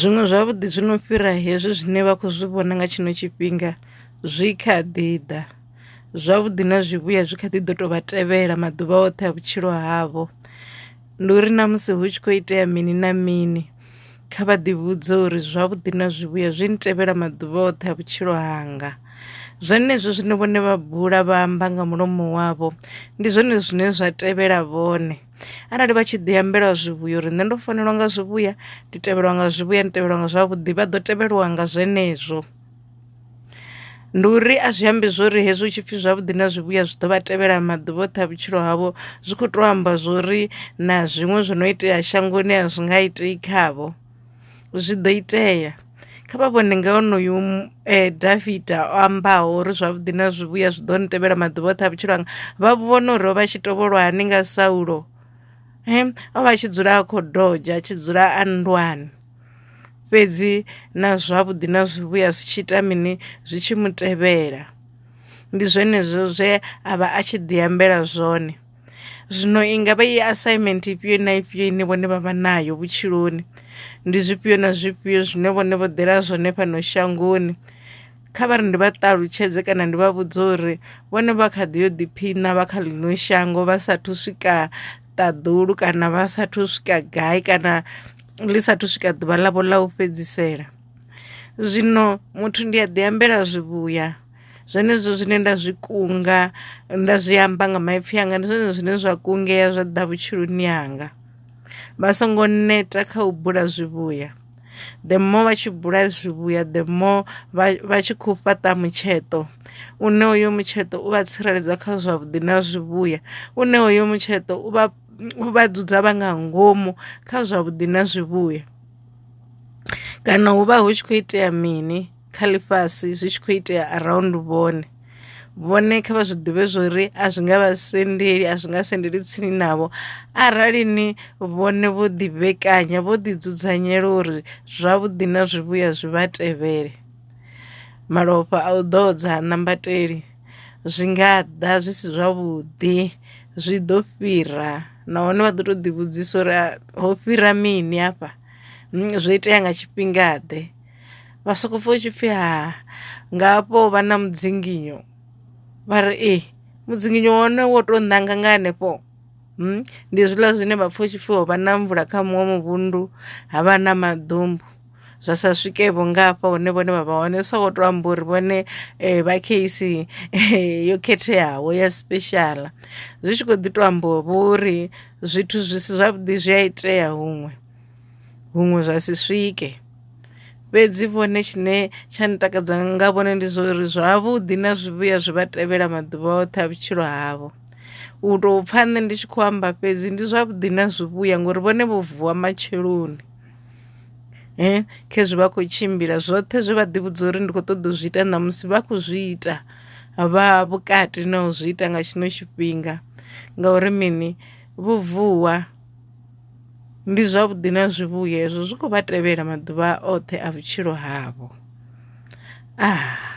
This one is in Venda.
Zwiṅwe zwavhuḓi zwi no fhira hezwi zwine vha khou zwi vhona nga tshino tshifhinga zwi kha ḓi ḓa zwavhuḓi na zwivhuya zwi kha ḓi ḓo to vha tevhela maḓuvha oṱhe a vhutshilo havho. Ndi uri na musi hu tshi kho itea mini na mini kha vha ḓi vhudze uri zwavhuḓi na zwivhuya zwi tevhela maḓuvha oṱhe a vhutshilo hanga zwenezwo zwine vhone vha bula vha amba nga mulomo wavho ndi zwone zwine zwa tevhela vhone. arali vha tshi ḓi ambelwa zwivhuya uri nṋe ndo fanelwa nga zwivhuya ndi tevhelwa nga zwivhuya ndi tevhelwa nga zwavhuḓi vha ḓo tevhelwa nga zwenezwo ndi uri a zwi ambi zwori hezwi hu tshipfi zwavhuḓi na zwivhuya zwi ḓo vha tevhela maḓuvha oṱhe a vhutshilo havho zwi kho to amba zwori na zwiṅwe zwi no itea shangoni a zwi nga itei khavho. zwi do itea kha vha vhone nga onoyu Davida o ambaho uri zwavhuḓi na zwivhuya zwi ḓo ni tevhela maḓuvha oṱhe a vhutshilo hanga vha vhona uri o vha tshi tovholwa hani nga Saulo o vha tshi dzula a kho dodzha a tshi dzula a nndwani fhedzi na zwavhuḓi na zwivhuya zwi tshi ita mini zwi tshi mu tevhela ndi zwenezwo zwe a vha a tshi ḓi ambela zwone. Zwino i ngavha i assignment ifhio na ifhio ine vhone vha vha nayo vhutshiloni ndi zwifhio na zwifhio zwine vhone vho ḓela zwone fhano shangoni kha vha ri ndi vha ṱalutshedze kana ndi vha vhudze uri vhone vha kha ḓi yo ḓiphiṋa vha kha ḽino shango vha sathu swika ṱaḓulu kana vha sathu swika gai kana ḽi sathu swika ḓuvha ḽavho ḽa u fhedzisela. Zwino muthu ndi a ḓi ambela zwivhuya. Zwenezwo zwine nda zwi kunga nda zwi amba nga maipfi anga ndi zwone zwine zwa kungela zwa ḓa vhutshiloni hanga vha songo neta kha u bula zwivhuya the more vha tshi bula zwivhuya the more vha tshi khou fhaṱa mutsheṱo u ne hoyo mutsheṱo u vha tsireledza kha zwavhuḓi na zwivhuya u ne hoyo mutsheṱo u vha vha dzudza vha nga ngomu kha zwavhuḓi na zwivhuya kana hu vha hu tshi khou itea mini. kha ḽifhasi zwi tshi khou itea around vhone vhone kha vha zwi ḓivhe zwori a zwi nga vha sendeli a zwi nga sendeli tsini navho arali ni vhone vho ḓi vhekanya vho ḓi dzudzanyela uri zwavhuḓi na zwivhuya zwi vha tevhele malofha a u ḓodza ha nambateli zwi nga ḓa zwi si zwavhuḓi zwi ḓo fhira nahone vha ḓo to ḓi vhudzisa uri ho fhira mini hafha zwo itea nga tshifhinga ḓe. vha soko pfha tshi pfhi ha nga hafho vha na mudzinginyo vha ri ee eh, mudzinginyo wone wo to nanga nga hanefho hmm? ndi zwiḽa zwine vha pfha tshi pfhi ho vha na mvula kha muṅwe muvhundu ha vha na maḓumbu zwa sa swike vho ngafha hune vhone vha vha hone so to amba uri vhone eh, vha case eh, yo khetheaho ya special zwi tshi kho ḓi to amba vho uri zwithu zwi si zwavhuḓi zwi a itea huṅwe huṅwe zwa si swike fhedzi vhone tshine tsha ntakadza nga vhone ndi zwa uri zwavhuḓi na zwivhuya zwi vha tevhela maḓuvha oṱhe a vhutshilo havho u tou pfha nṋe ndi tshi khou amba fhedzi ndi zwavhuḓi na zwivhuya ngori vhone vho vuwa matsheloni um khezwi vha khou tshimbila zwoṱhe zwe vha ḓivhudza uri ndi khou ṱoḓa u zwi ita ṋamusi vha khou zwi ita vha vhukati na u zwi ita nga tshino tshifhinga ngauri mini vho vuwa. Ndi zwavhuḓi na zwivhuya ezwo zwi khou vha tevhela maḓuvha oṱhe a vhutshilo havho. Ah.